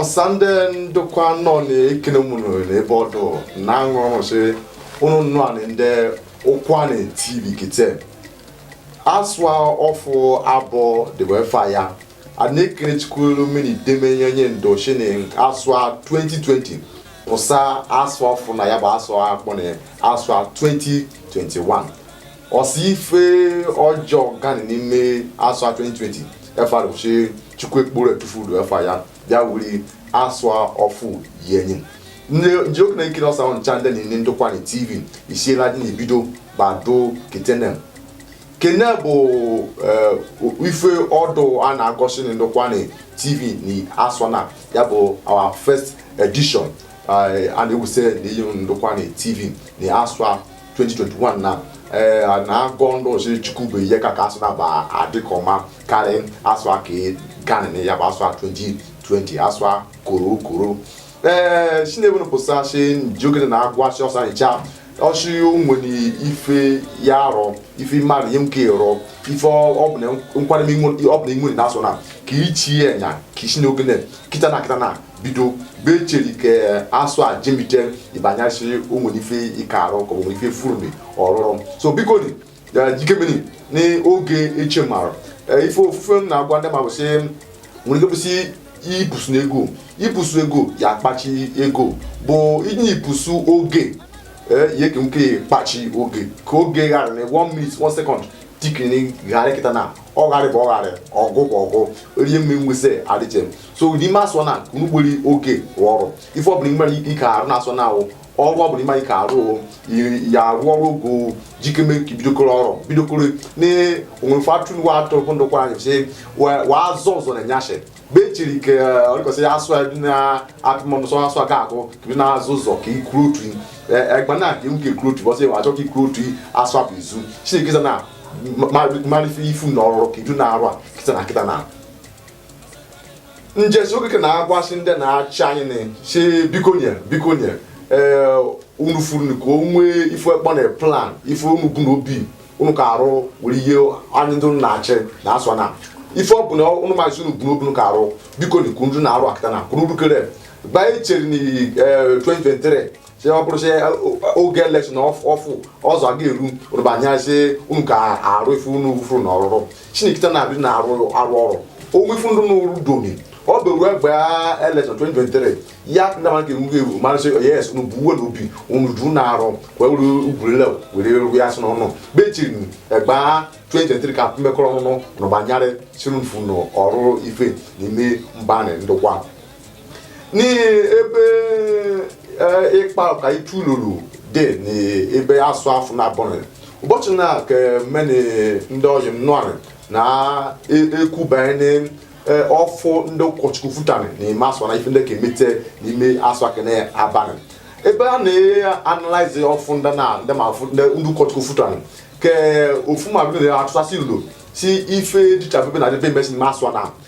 ọsande ndokwa nọ na-ekene m ụnụ n'ebe ọdụ na aṅụrị sị ụnụ nnụa nị ndị ụkwụanị tv kite asụa ọfụ abụọ dịbụ efa ya a na-ekene chukwu ru mmiri demenye onye ndụ shi nị asụa 2020 pụsa asụa ọfụ na ya bụ asụa a kpọ na asụa 2021 ọsa ife ọjọọ gani n'ime asụa 2020 efa rụchi chukwu ekpuru etufuru efa ya bịa wuri asụa ọfụ yenyi n ji oge na-ekene ọsa unu ncha ndị na-enye ndokwa nị tv isiela dị na ibido gbado ketenem kene bụ eh, ife ọdụ a na-agosi na ndokwa nị tv na asụa na ya bụ our first edition eh, a na-ewuse n'iyi ndokwa nị tv na asụa 2021 na eh, na-agọ ndị ọzọ chukwu bụ ihe ka ka asụa na ba adịkọ mma karị asụa ke ganị ya bụ asụa 2020 asụa koro koro ee shi n'ebe nụ pụsasị ji oge na agwasị ọsa ncha ọsị onwere ife ya arọ ife mmadụ ihe nke rọ ife ọbụla nkwado ọbụla inwere na asụa na ka ichi ya nya ka isi na oge nị kịta na kịta na bido be cheri ka asụa jemite ị ba yasị onwere ife ike arọ ka onwere ife furu ọrụrụ so biko ni jikemeni ni oge eche mara ife ofufe m na-agwa ndị ma bụsị nwere ike bụsị ibusu na ego ibusu ego ya akpachi ego bụ inye ibusu oge ihe ka nke kpachi oge ka oge gara na one minute one second tikini gara kịta na ọ garị bụ ọ garị ọgụ bụ ọgụ rie mme nwese adịche so n'ime asụa na unu gbori oge rụọ ọrụ ife ọbụla nwere ike ike arụ na asụa na awụ ọrụ ọ bụla ị marị ike arụ ya arụ ọrụ ogo jikeme ka i bidokoro ọrụ bidokoro na onwere fatun wa atọ bụ ndokwa anyị sị wa azọ ọzọ na nyashe be chiri ke ọrịkọsị ya asụ ebi na atụmọmụsọ asụa ga akụ kebi na azụ ụzọ ka ikuru otu egba na ka nwoke ikuru otu ụbọsị achọ ka ikuru otu asụa bụ izu chineke na marị ife i fu na ọrụ kedu na arụ a kịta na kịta na n jisi oge ke na-agwasị ndị na-achị anyị na si biko nị biko nị ee unu furu ka o nwee ife a kpọ na plan ife unu bụ na obi unu ka arụ were ihe anyị ndị unu na-achị na asụa na ife ọ bụ na unu maazị unu bụ n'obi unu ka arụ biko na ka unu dị na-arụ a kịta na ka unu rukere mgbe anyị chere na ee, 2023 si ọ bụrụ si oge elekshọn ọfụ ọzọ aga eru rụbanye si unu ka arụ ife unu furu na ọrụrụ chinekita na-abịa na arụ arụ ọrụ onwe ife ndụ n'ụrụ domi ọ bụ ruo egbe elekshọn 2023 ya ndị mmadụ ga-enwu ga-ewu mara sị yes unu bu we na obi unu ju na arụ wee were ugwurele were ru ya sị n'ọnụ bechiri egbe 2023 ka mmekọrọ ọnụnụ na gbanyere sirunfu na ọrụ ife n'ime mba na ndokwa ni ebe ịkpa eh, ka itu lụrụ dị n'ebe asụa ọfụ na-abụghị ụbọchị na ka mene ndị ọyị m nụarị na ekwubanye eh, ọfụ ndị ụkọchukwu futani n'ime asụa na ife ndị ka emete n'ime asụa kenị abalị ebe a na-analyze ọfụ ndị na ndị ma ndị ụkọchukwu futani ke ọfụma bụrụ na atụtasị ilu si ife dịcha bebe na debe mesi n'ime asụa na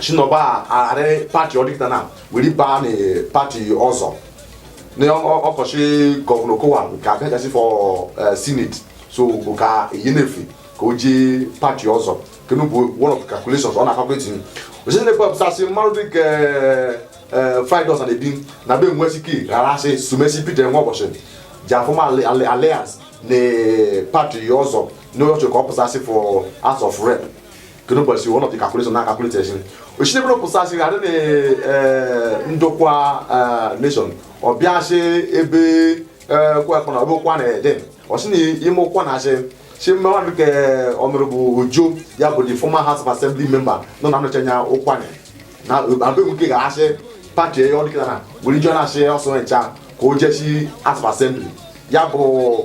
shi na ọ ga-arị pati ọ dị kịta na were baa na pati ọzọ na ọkọchị gọvanọ Okowa nke abịagasị for senate so bụ ka eyi na-efe ka o jee pati ọzọ kenu bụ one of the calculations ọ na-calculate osisi na-ekwe ọ pụsasị mmadụ dị ka Friday Osanebi na be nwesike ghara asị sumesi Peter Nwaoboshi ji a-form alliance na pati ọzọ na ọ chọ ka ọ pụsasị for house of rep kenu bụ si one of the calculations ọ na-calculate ochite bụrụ pụsa si adị na eh, ndokwa eh, nation ọ bịasị ebe eh, kwekọ na ọbụkwa na ede ọsị na ime Ụkwanị asị si mmadụ ka Honourable Ojo ya bụ the former house of assembly member nọ na anọchi anya Ụkwanị na abụ nke ga-asị pati ya ọ dị kịta na were ije na-asị ọsọ ncha ka o jesi house of assembly ya bụ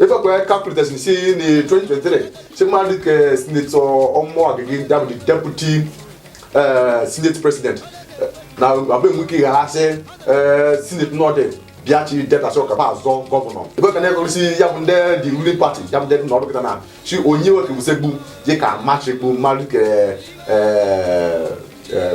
ife kwe calculators ni si ni 2023 si ma di ke sinetọ ọmọ agege dabu di deputy uh, senate president eh, na abe mu ki ha se eh, senate norte bia chi deta so ka ba zọ governor ife ka na ko si ya bu nde di ruling party ya bu nde na ọdọ kita na si onye we ke bu se gbu je ka ma se gbu ma di ke eh, eh,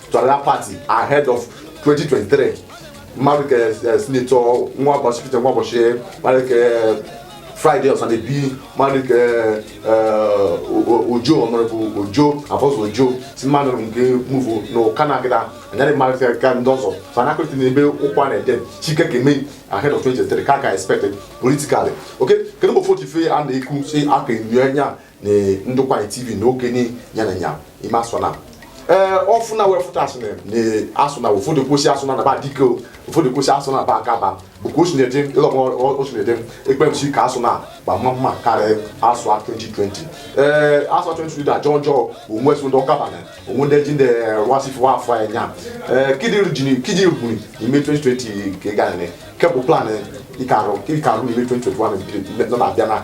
to another party ahead of 2023 mmadụ ka eh, sinetọ Nwaoboshi Peter Nwaoboshi mmadụ ka eh, Friday Osanebi mmadụ ka ojo Honourable Ojo Alphonsus Ojo si mmadụ nke muvu na ụka na agịda anyarị mmadụ ka ka ndị ọzọ so na akụrịta n'ebe Ụkwanị dị chike ka eme ahead of 2023 ka ka expected politically okay kenu bụ ofu ochife a na-ekwu si aka enyo anya na ndokwa tv na oge ni ya na nya ime asụ na ee ọfụ na wee fụta asụ na na asụ na ụfọdụ kwụsị asụ na naba dike o, ụfọdụ kwụsị asụ na ba aka ba bụkwa osu na-ede ịlọgọ osu na-ede ekpemsi ka asụ na gba mma mma karịa asụ a 2020 ee asụ a 2020 da jọọ jọọ onwe so ndị ọka bana onwe ndị ji ndị rụwasị fụwa afọ ya nya ee kidi jini kidi rubuni n'ime 2020 ka ị gara kebụ plan ịkarụ ịkarụ n'ime 2021 nọ na-abịa na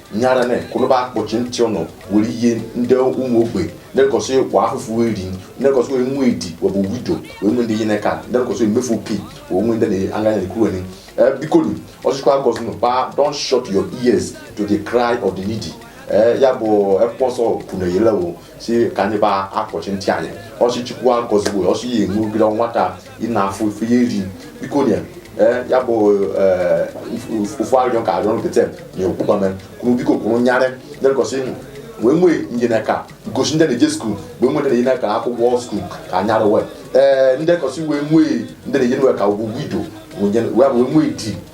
nyara ne kunu ba akpọchi ntị unu were ihe ndị ụmụ ogbe ndị kọsị kwa afụfụ eri ndị kọsị wee nwe di wee bụ widow wee nwe ndị yene aka ndị kọsị emefu oke wee nwe ndị na-anya na-ekwu eni bikonu ọsịkwa akọsị nụ ba don't shut your ears to the cry of the needy ya bụ ekpọsọ kwuru eyelewo si ka anyị ba akpọchi ntị anyị ọsị chukwu akọzigbo ọsị ya enwe ogide nwata ị na-afụ ife eri biko nye ee, ya bụ ee, ofu- ofu arịrịọ ka arịrịọ nkịtị na okwukwa mere kunu biko kunu nyarị ndị kọsị ịnụ wee nwee ndị yene aka gosi ndị na-eje skuul wee nwee ndị yene aka akwụkwọ skuul ka anyara wee ee ndị kọsị wee nwee ndị na-enye nwe aka widow wee bụ wee nwee di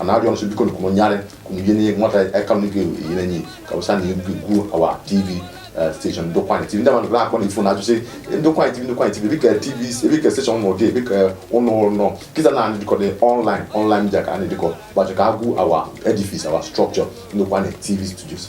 ana arịọ unu biko kunu nyarị kunu yene nwata aka nụ gị yene enyi aka wụsa na egwu egwu our tv eh, station ndokwa tv ndị mmadụ na-akpọ na ifo na ajụsị ndokwa tv ndokwa tv dịka tv dịka station nọ dị dịka ụlọ ọrụ nọ kịta na anyị dịkọdị online online media ka anyị dịkọ gbachọ ka agwụ our edifice our structure ndokwa tv studios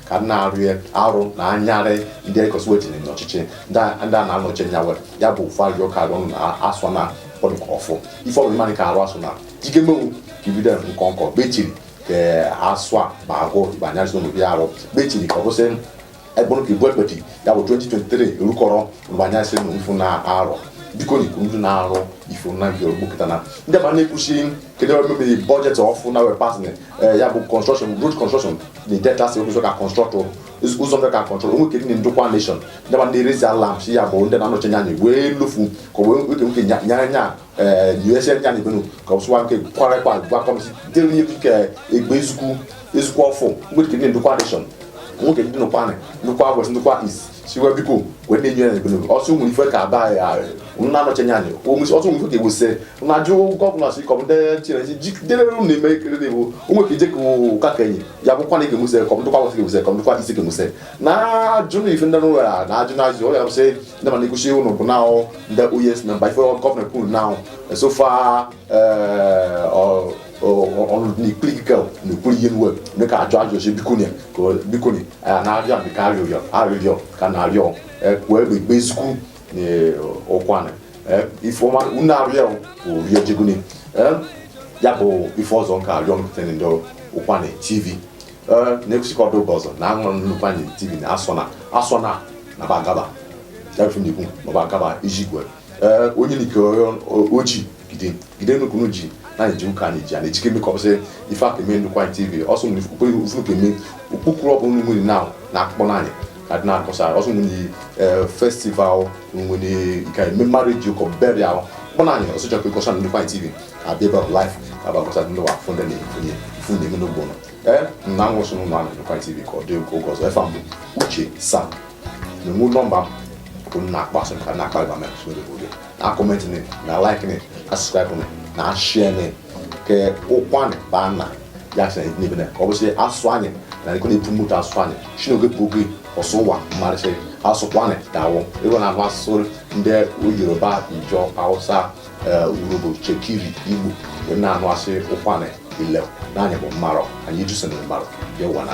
ka m na-arịọ arụ na anyarị ndị ekọsiwe tinye n'ọchịchị ndị a na-anọchi anya were ya bụ ofu arịrịọ ka arịọ na asụ na kpọdụ ka ọfụ ife ọbụla mmadụ ka arụ asụ na jike menwu ka ibido nkọ nkọ bechiri ka asụ a ma agụ igbe anyarịsị n'obi arụ bechiri ka ọ bụsị egbụrụ ka ibu ekpeti ya bụ 2023 erukọrọ mgbe anyarịsị na mfu na arọ biko na ikwu ndị na-arụ ife na nke ogbukọta na ndị ba na-ekwusi kedu ebe mebiri budget ọfụ na wee pass ee ya bụ construction road construction na delta state ụzọ ka construct ụzọ ndị ka control onwe kedi ndokwa nation ndị ba na-raise alarm si ya bụ ndị na-anọchi anya anyị wee lufu ka wee oke nke nyere nya usa nya na ebenu ka ọ sụwa nke kwara kwa gwa kọmisi dịrị ihe nke egbe ezukwu ezukwu ọfụ onwe kedi ndokwa nation onwe kedi ndokwa ndokwa west ndokwa east siwa biko wee na-enye ya ebere ọsọ ụmụ ife ka aba ya arị unu na-anọchanye anyị omesi ọsọ ụmụ ife ka ewuse na ajụ gọvanọ si kọm ndị chinesi jidere unu na-eme ekele na-ewu ụmụ ka ije ka ụka ka enyi ya bụkwa na ị ga-emuse kọ ndokwa west ga-emuse kọ ndokwa east ga-emuse na ajụ na ife ndị n'ụlọ ya na ajụ na ajụ ọ ya bụ sị ndị mana ekwuchi unu bụ na ndị o yes member ife gọvanọ kwuru na so far ọrụ na-ekpuli gị ka na-ekwuli ihe nwe ndị ka ajụ ajụ si bikoni ka bikoni a na-arịọ ndị ka arịrịọ arịrịọ ka na-arịọ wee bụ ikpe ezikwu na ụkwanị ifeọma unu arịọ bụ rie jegoni ya bụ ife ọzọ nke arịọ mpụta ndokwa anyị tv na-ekwusikọ ọdụ ụbọchị na aṅụrụ ndokwa anyị tv na asọ na asọ na na bagaba ya bụ na-ekwu ma bagaba iji gwe ee onye nke oji gide gide nukunu ji na anyị ji ụka anyị ji a na-ejike eme ka ọ bụsị ife aka eme ndokwa anyị tv ọsọ nwere ukwe ufu ka eme ukpukuru ọ bụ nri nwere na na akpọ nị anyị ka dị na-akọsa ọsọ nwere ee festival nwere ike eme marriage ụkọ burial kpọ nị anyị ọsọ chọkwa ịkọsa na ndokwa anyị tv ka abịa ebe ahụ live ka abụ akọsa ndị wa fụnde na efunye ifu na-eme n'ụgbọ nọ ee na nwụsụ n'ụlọ anyị ndokwa anyị tv ka ọ dị oge ọzọ efa m bụ uche sam na enwe nọmba m bụ m na-akpọ asị ka na-akpa ịba mee asụsụ oyibo gị na comment nị na like nị na subscribe nị na share nị ke ụkwanị baa na ya sị na n'ebe na ka ọ bụsị asụ anyị na ekwe na-apromote asụ anyị si n'oge bụ oge ọsụ ụwa marị sị asụ ụkwanị dawụ ịgwa na asụ ndị yoruba ijọ hausa urhobo chekiri igbo wee na-anụ asị ụkwanị ile na anyị bụ mmarọ anyị jụsị na mmarọ ya ụwa na